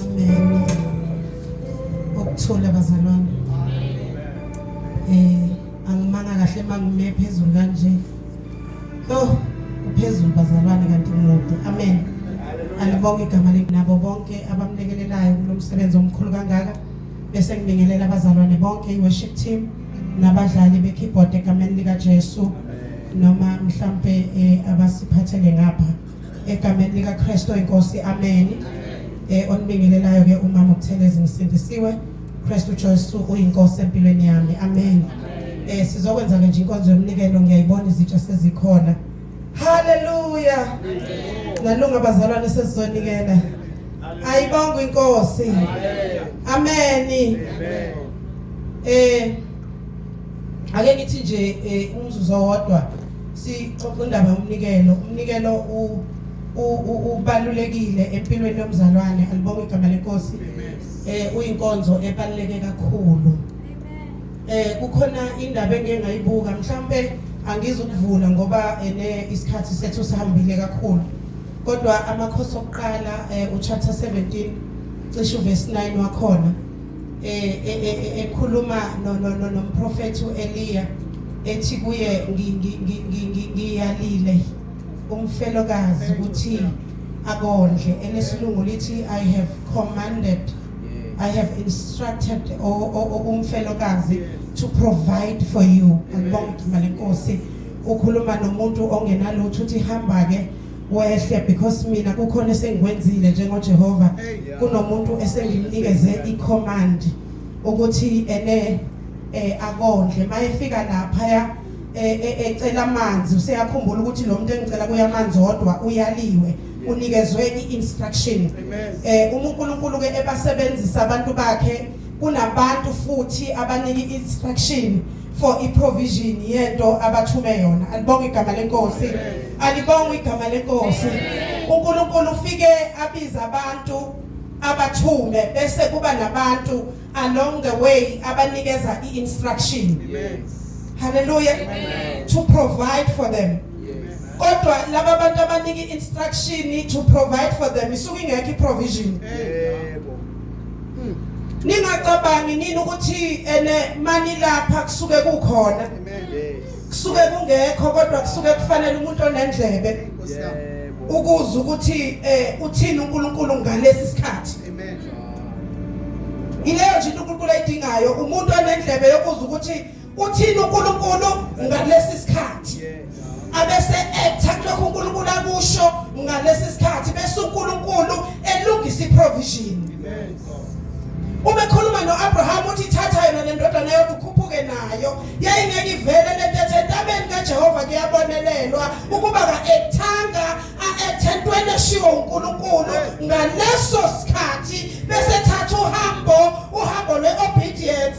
Amen. Ukuthola bazalwane. Eh angimanga kahle mangime phezulu kanje. Oh uphezulu bazalwane kanti umude. Amen. Alibonge igama lekunabo bonke abamlekelelayo kulomsebenzi omkhulu kangaka bese ngibingelela abazalwane bonke i-worship team nabadlali be-keyboard egameni likaJesu noma mhlampe eh, abasiphathele ngapha egameni likaKristu inkosi amen eh onibingelelayo ke umama uButhelezi ngisindisiwe Kristu Jesu uyinkosi empilweni yami amen eh sizokwenza ke nje inkonzo yomnikelo ngiyayibona izitsha sezikhona haleluya nalunga bazalwane sesizonikela ayibonga inkosi amen eh ake ngithi nje eh, umzuzu owodwa sixoxa indaba yomnikelo umnikelo ubalulekile empilweni yomzalwane alibonge igama lenkosi eh uyinkonzo ebaluleke kakhulu eh kukhona indaba engeke ngayibuka mhlambe angizukuvula ngoba ene isikhathi sethu sihambile kakhulu kodwa amakhosi okuqala eh, uchapter 17 cishe uverse 9 wakhona eh, eh, eh, ekhuluma nomprofethi u-eliya ethi kuye ngiyalile umfelokazi ukuthi akondle elesilungu lithi i have commanded i have instructed umfelokazi to provide for you ngibonga ukudumela inkosi ukhuluma nomuntu ongenalutho uthi hamba-ke wehle because mina kukhona esengikwenzile njengoJehova kunomuntu esengimnikeze icommand ukuthi ene eh akondle mayefika lapha ya eh, eh, ecela amanzi useyakhumbula ukuthi lo muntu engicela kuya amanzi odwa uyaliwe unikezwe i-instruction eh uma uNkulunkulu ke ebasebenzisa abantu bakhe kunabantu futhi abanika i-instruction for iprovision yento abathume yona alibonga igama lenkosi alibonga igama lenkosi uNkulunkulu ufike abiza abantu abathume bese kuba nabantu along the way abanikeza iinstruction haleluya to provide for them kodwa laba bantu abanika instruction to provide for them isuke ingekho iprovision yebo Hmm. Ningacabangi nini ukuthi ene mani lapha kusuke kukhona. Kusuke kungekho kodwa kusuke kufanele umuntu onendlebe. Ukuza ukuthi eh uthini uNkulunkulu ngalesi sikhathi. Amen. Ileyo nje uNkulunkulu ayidingayo umuntu onendlebe yokuza ukuthi Uthini uNkulunkulu ngalesi sikhathi? Abese etha kulokho uNkulunkulu akusho ngalesi sikhathi bese uNkulunkulu elungisa iprovision. Amen. Uma ekhuluma noAbraham uthi thatha yona lendodana yakho ukhuphuke nayo. Yayingeke ivele lento ethe entabeni kaJehova kuyabonelelwa ukuba kaethanga aethentweni eshiwo uNkulunkulu ngaleso sikhathi bese thatha uhambo uhambo lweobedience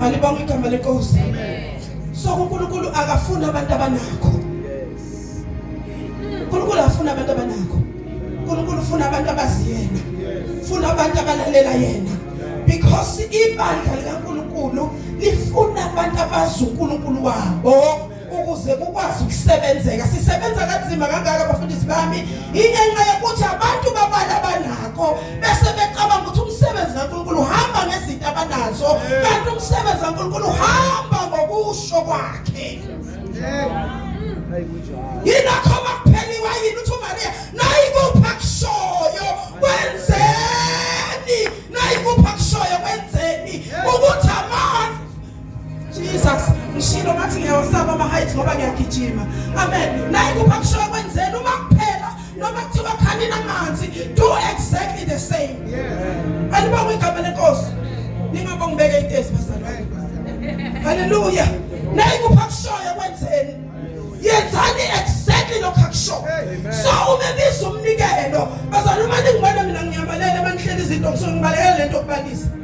Alibonge igama lenkosi. So uNkulunkulu akafuni abantu abanakho. uNkulunkulu afuna abantu abanakho. uNkulunkulu ufuna abantu abaziyena. Ufuna abantu abalalela yena. Because ibandla likaNkulunkulu lifuna abantu abazi uNkulunkulu wabo. ukuze kukwazi ukusebenzeka sisebenza kanzima kangaka abafundisi bami ingenxa yokuthi abantu babala banako bese becabanga ukuthi umsebenzi kaNkulunkulu uhamba ngezinto abanazo kanti umsebenzi kaNkulunkulu uhamba ngokusho kwakhe yinakho bakupheliwa yini uthi uMaria nayikupha kushoyo kwenzeni nayikupha kushoyo kwenzeni ukuthi Jesus ngishilo ngathi ngiyawasaba ama heights ngoba ngiyagijima amen naye kupha kushiwa kwenzela uma kuphela noma kuthiwa khanina amanzi do exactly the same yeah anibonga igama lenkosi ningabonga ubeke itesi bazalwane haleluya naye kupha kushoya kwenzeni yenzani exactly lokho akushoyo so uma biza umnikelo bazalwane uma ningibona mina ngiyabalela manihlele izinto ngisuke ngibalekele lento okubalisa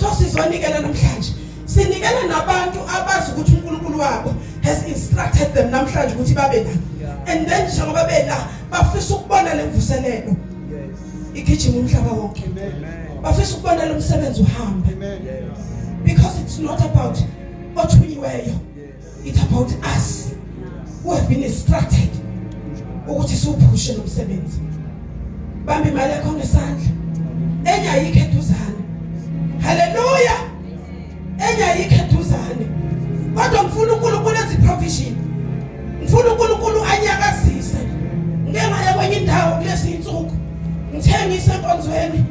so sizonikela namhlanje sinikela nabantu abazi ukuthi uNkulunkulu wabo has instructed them namhlanje ukuthi babe la and then njengoba bela bafisa ukubona lemvuselelo igijima umhlaba wonke bafisa ukubona lomsebenzi uhamba because it's not about othunyiweyo it's about us who have been instructed ukuthi siwuphushe lo msebenzi bambe imali yakho ngesandla enye ayikho eduzane haleluya enye ayikho eduzane kodwa ngifuna uNkulunkulu enze provision ngifuna uNkulunkulu anyakazise ngeke ngaya kwenye indawo kulezi insuku ngithengise enkonzweni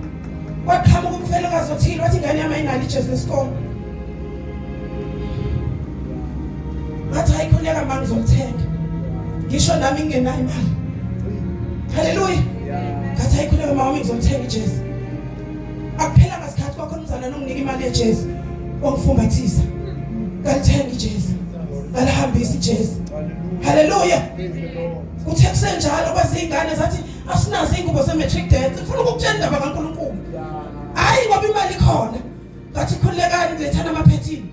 kwaqhamuka umfelokazi othile wathi ingane yami ayinalo ijesu lesikole ngathi ayikhuleka manje ngizomthenga ngisho nami ngingenayo imali haleluya ngathi ayikhuleka mama ngizomthenga ijesu akuphela ngasikhathi kwakho umzana nomnika imali yejesu wangifumbathisa ngalithenga ijesu ngalihambisa ijesu haleluya kuthe kusenjalo kwezingane zathi asinazo ingubo ze matric dance ngifuna ukukutshela indaba kaNkulunkulu hayi ngoba imali khona ngathi khulekani lethana amaphethini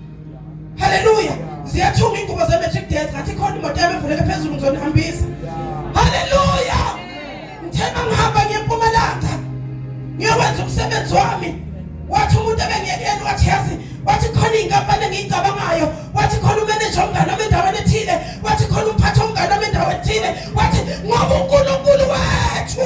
haleluya ziyathunga ingubo ze-matric death ngathi khona imoto yami evuleke phezulu ngizonihambisa haleluya ngithe uma ngihamba ngiyempumalanga ngiyokwenza umsebenzi wami wathi umuntu ebengiyekeni wathi yazi wathi khona iy'nkampani engiyicabangayo wathi khona umeneja omngane wami endaweni ethile wathi khona umphathi omngane wami endaweni ethile wathi ngoba unkulunkulu wethu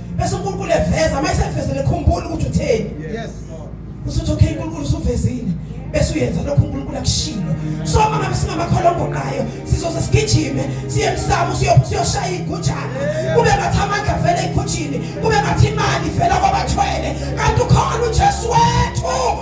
bese uNkulunkulu eveza uma esevezele khumbula ukuthi utheni yes usuthi okay uNkulunkulu usuvezile bese uyenza lokho uNkulunkulu akushilo so uma ngabe singamakholwa ogoqayo sizoze sigijime siye emsamo siyophu siyoshaya igujana kube ngathi amandla vele ekhutshini kube ngathi imali vela kwabathwele kanti ukhona uJesu wethu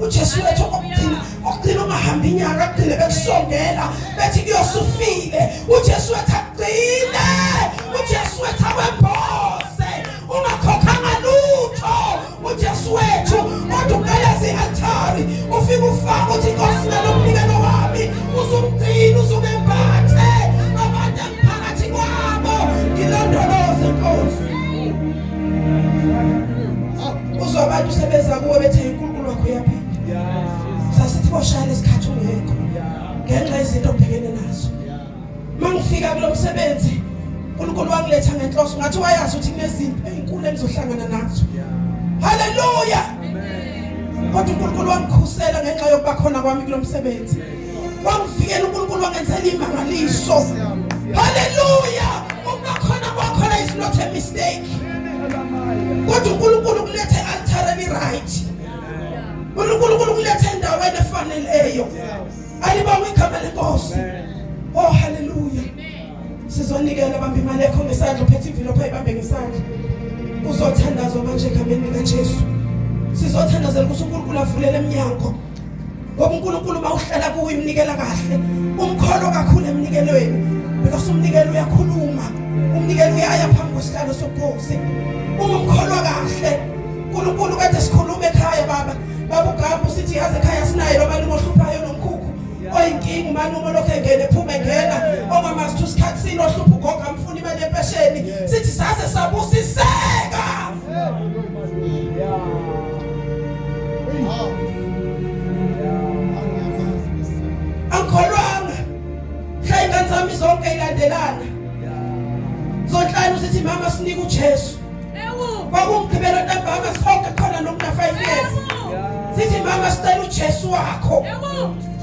uJesu wethu okugcina okugcina ungahamba inyanga agcine bekusondela bethi kuyosufile uJesu wethu agcine uJesu wethu awembose ungakhokhanga lutho uJesu wethu kodwa uqaleza ialtari ufike ufaka uthi inkosi nalomnikelo wami uzumgcina uzumembathe abantu emphakathi kwabo ngilondoloze inkosi uzwa abantu sebeza kuwe bethe uNkulunkulu wakho uyaphila sasithi boshaya lesikhathi ungekho ngenxa yezinto obhekene nazo mangifika kulo msebenzi uNkulunkulu wangiletha ngenhloso ngathi wayazi ukuthi kunezinto ezinkulu engizohlangana nazo haleluya kodwa uNkulunkulu wangikhusela ngenxa yokuba khona kwami kulo msebenzi wamvikela uNkulunkulu wangenzela imangaliso haleluya ukubakhona kwakho la is not a mistake kodwa uNkulunkulu kulethe altareni right uNkulunkulu kulethe endaweni efaneleyo alibawe igama lenkosi oh haleluya sizonikela bambe imali yakho ngesandla uphethe ivilophu ayibambe ngesandla uzothandazwa manje egameni likaJesu sizothandazela ukuthi uNkulunkulu avulele eminyango ngoba uNkulunkulu uma uhlala kuye unikela kahle umkholo kakhulu emnikelweni because umnikelo uyakhuluma umnikelo uyaya phambi kwesihlalo sobukhosi uma umkholwa kahle uNkulunkulu kade sikhuluma ekhaya baba baba uGabu sithi yazi ekhaya sinaye lo mali ohluphayo nomkhukhu oyinkinga umani uma lokho engene phuma engena omama sithu sikhathi sino hlupha ugogo amfuna imali empesheni sithi sase sabusiseka angikholwanga mhla ingane zami zonke ilandelana zonhlanu sithi mama sinike ujesu kwakumgqibelo ntambama sonke khona nokunafive years sithi mama sicela ujesu wakho